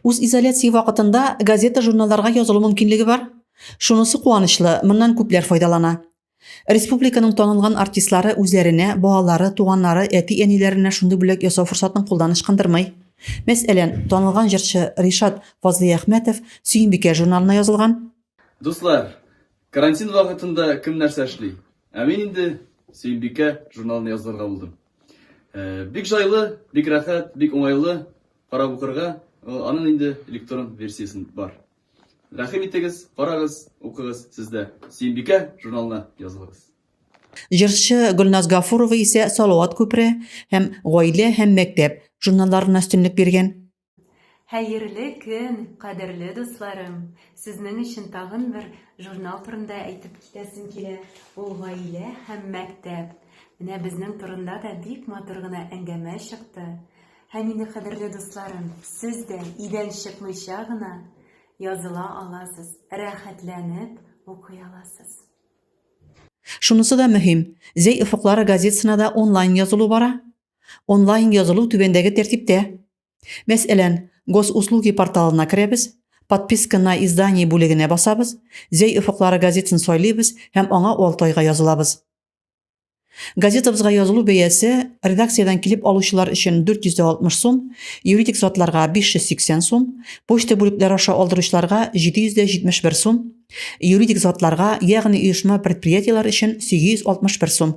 Үзизоляция вакытында газета-журналларга язылу мөмкинлеге бар. Шунысы куанычлы, моннан күпләр файдалана. Республиканың танылган артистлары үзләренә, балалары, туганнары, әти-әниләренә шундый бүләк ясау форсатын кулдан ычкындырмый. Мәсәлән, танылган җырчы Ришат Фазлыйәхмәтов Сөембикә журналына язылган. Дуслар, карантин вакытында кем нәрсә эшли? Ә мин инде Сөембикә журналына язылырга булдым. Бик жайлы, бик рәхәт, бик уңайлы карап укырга. Аның инде электрон версиясен бар. Рәхим итегез, карагыз, укыгыз сездә. Сөембикә журналына язылыгыз. Җырчы Гөлназ Гафурова исә Салават күпере һәм Гаилә һәм мәктәп журналларына өстенлек биргән. Хәерле көн, кадерле дусларым! Сезнең өчен тагын бер журнал турында әйтеп китәсем килә. Ул гаилә һәм мәктәп. Менә безнең турында да бик матур гына әңгәмә чыкты. Һәм инде, кадерле дусларым, сез дә идән чыкмыйча гына языла аласыз, рәхәтләнеп укый аласыз. Шунысы да мөһим, Зәй офыклары газетасына да онлайн язылу бара. Онлайн язылу түбәндәге тәртиптә. Мәсәлән, Госуслуги порталына керәбез, Подписка на издание бүлегенә басабыз, Зәй офыклары газетын сайлыйбыз һәм аңа 6 айга язылабыз. Газетабызга язылу бәясе редакциядән килеп алучылар өчен 460 сум, юридик затларга 580 сум, почта бүлекләре аша алдыручыларга 771 сум, юридик затларга, ягъни оешма-предприятиеләр өчен 861 сум.